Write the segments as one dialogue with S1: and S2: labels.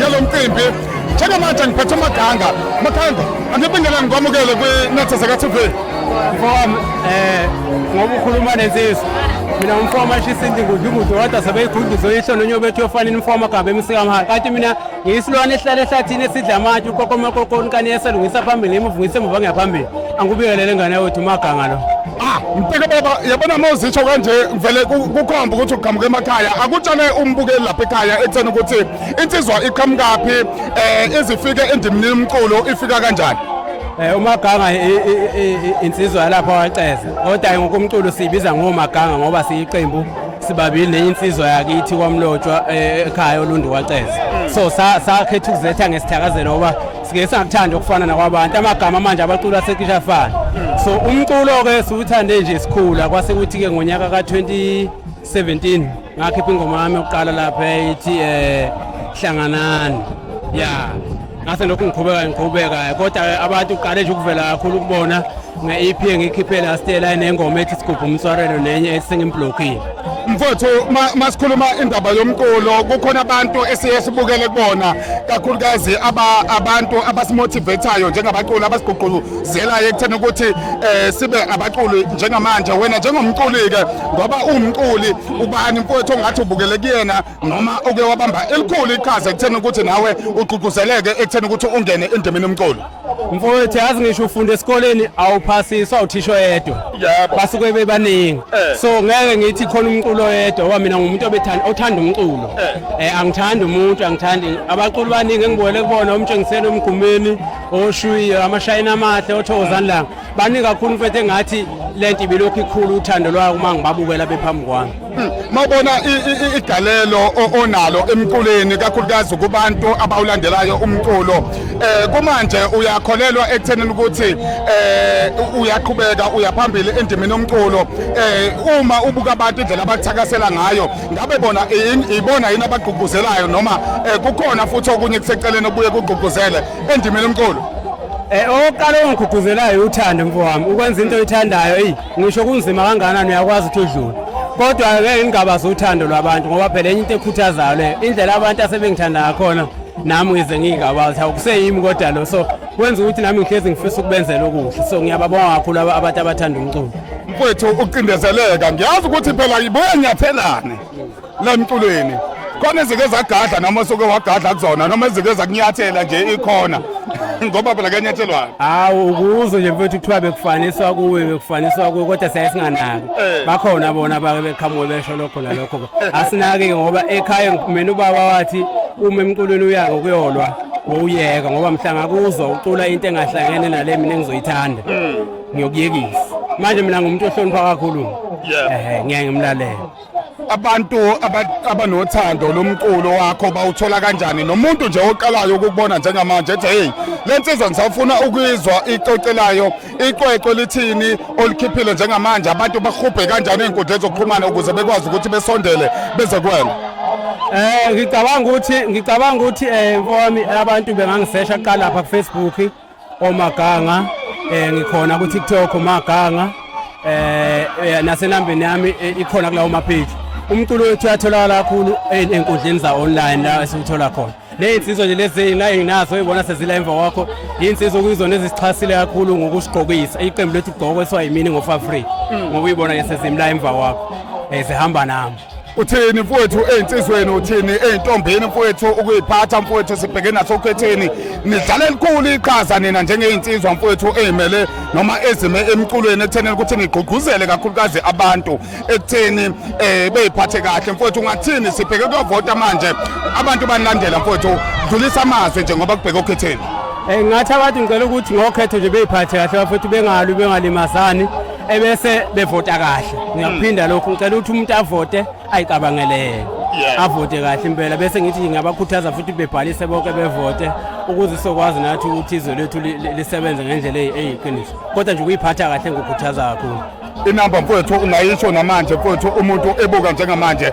S1: yalo mcimbi njengamanje ngiphethe umaganga makhanda angibingela ngikwamukele kwinetha zaka-tv mfowami um
S2: eh, ngoba ukhuluma nensizwa mina ngumfo wamashisa indingudu ingudu kodwa sebeyiguduzwe yisho nonye bethu yofanele umfo wamagaba emsikamhaka kanti mina ngiyisilwane esihlala ehlathini esidla amatshe ukokomakokoni kani esalungisa phambili imuvungisa emuva ngiyaphambili angikubikelele ngane yawethu umaganga lo ah mteke baba
S1: yabona uma uzitsho kanje vele kukhomba ukuthi uqhamuka emakhaya akutshale umbukeli lapha ekhaya ekutheni ukuthi insizwa iqhamukaphi eh izifike endimini umculo ifika kanjani eh umaganga
S2: insizwa yalapha waceza kodwa ngokumculo sibiza ngomaganga ngoba siyiqembu sibabili nenye insizwa yakithi kwamlotshwa eh, ekhaya olundu waceza so sakhetha ukuzetha ngesithakazelo ngoba sike sangakuthanda ukufana nakwabantu amagama manje abacula asecisha afana so umculo-ke siwuthande nje sikhula kwase kuthi-ke ngonyaka ka-20 17 ngakhipha ingoma yami yokuqala lapha eyithi eh hlanganani ya ngase lokhu ngiqhubeka ngiqhubeka kodwa abantu uqale nje ukuvela kakhulu kubona nge-EP engikhiphe last year line engoma ethi sigubha umswarelo nenye ethi sengimblockile mfowethu
S1: masikhuluma indaba yomculo kukhona abantu esiye sibukele kubona kakhulukazi abantu abasimotivathayo njengabaculi abasigqugqulu zela ekutheni ukuthi eh sibe abaculi njengamanje wena njengomculi ke ngoba uwumculi ubani mfowethu ongathi ubukele kuyena noma uke wabamba elikhulu iqhaza ekutheni ukuthi nawe ugqugquzeleke ekutheni ukuthi ungene endimini umculi mfowethu yazi
S2: ngisho ufunda esikoleni awuphasiswa uthisho yedwa basuke bebaningi eh. so ngeke ngithi khona umculo yedwa oba mina ngumuntu obethanda othanda umculo eh. eh angithandi umuntu angithandi abaculi baningi engibukele kubona umtshengiseni omgumeni oshuyiyo amashayini amahle othokozani langa baningi kakhulu mfethu engathi le nto ibilokhu ikhulu uthando lwayo uma ngibabukela bephambi kwami hmm, mawubona
S1: igalelo onalo emculweni kakhulukazi kubantu abawulandelayo umculo um kumanje uyakholelwa ekuthenini ukuthi um uyaqhubeka uyaphambili endimeni yomculo um uma ubuka abantu indlela abakuthakasela ngayo ngabe bona ibona yini abagqugquzelayo noma eh, kukhona futhi okunye kuseceleni obuye kugqugquzele endimeni omqulu Eh oqala
S2: ongigqugquzelayo uthando mfowami ukwenza into oyithandayo eyi ngisho kunzima kangakanani uyakwazi ukuthi udlule kodwa ngeke ngingabazi uthando lwabantu ngoba phela enye into ekhuthazayo leyo indlela abantu asebengithanda ngakhona nami ngize ngingabazi awukuseyimi kodwa lo so kwenza ukuthi nami ngihlezi ngifisa ukubenzela okuhle so ngiyababonga kakhulu abantu abathanda umculo mfowethu
S1: ucindezeleka ngiyazi ukuthi phela ibuye nyathelane la mculweni khona ezike zagadla noma soke wagadla kuzona noma ezike zakunyathela nje ikhona ngoba phela kuyanyathelwana hawu ukuzo
S2: nje mfowethu kuthiwa bekufaniswa kuwe bekufaniswa kuwe kodwa siyaye singanaki eh. bakhona bona bake beqhamuke besho lokho nalokho eh. asinaki-ke ngoba ekhaya mina ubaba wathi uma emculweni uyaka ukuyolwa wowuyeka ngoba mhlanga kuzwa ucula into engahlangene nale mina engizoyithanda hmm. ngiyokuyekisa manje mina ngumuntu ohlonipha kakhulu ehe ngeke ngimlalele abantu
S1: abanothando lomculo wakho bawuthola kanjani nomuntu nje oqalayo ukubona njengamanje ethi hey le nsizwa ngisafuna ukuyizwa icocelayo iqweqwe lithini olikhiphile njengamanje abantu bahubhe kanjani ey'nkundleni zokuxhumana ukuze bekwazi ukuthi besondele beze kwena Eh ngicabanga ukuthi
S2: ngicabanga ukuthi eh mfowami abantu bengangisesha kuqala lapha ku Facebook omaganga eh ngikhona ku TikTok omaganga eh, eh nasenambeni yami eh, ikhona kulawo ma page umculo wethu uyatholakala kakhulu eh, enkundleni za online la esiwuthola khona lezinsizwa nje lezi enginazo ibona sezila emva kwakho insizwa okuyizona ezisixhasile kakhulu ngokusigqokisa iqembu lethu igqoko esiwa yimini ngo-fafree hmm. ngoba uyibona nje sezimla emva kwakho um zihamba nami uthini mfowethu
S1: ey'nsizweni uthini ey'ntombini mfowethu ukuyiphatha mfowethu sibheke nasokhetheni nidlala elikhulu iqhaza nina njengey'nsizwa mfowethu ey'mele noma ezime emculweni ekuthenini ukuthi nigqugquzele kakhulukazi abantu ekutheni um eh, beyiphathe kahle mfowethu ungathini sibheke kuyovota manje abantu banilandela mfowethu dlulisa amazwi nje ngoba kubheke okhetheni um eh,
S2: ngathi abantu ngicela ukuthi ngokhetho nje beyiphathe
S1: kahle
S2: bafowethu bengalwi bengalimazani ebese bevota kahle ngiyakuphinda lokhu ngicela ukuthi umuntu avote ayicabangelele Yeah. avote kahle impela bese ngithi ngingabakhuthaza futhi bebhalise bonke bevote ukuze sokwazi nathi ukuthi izwe lethu li- li- lisebenze ngendlela eyi- eyiqiniso kodwa nje ukuyiphatha kahle ngikukhuthaza kakhulu inamba mfowethu
S1: ungayisho namanje mfowethu umuntu ebuka njengamanje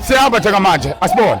S1: Siyahamba njengamanje asibone.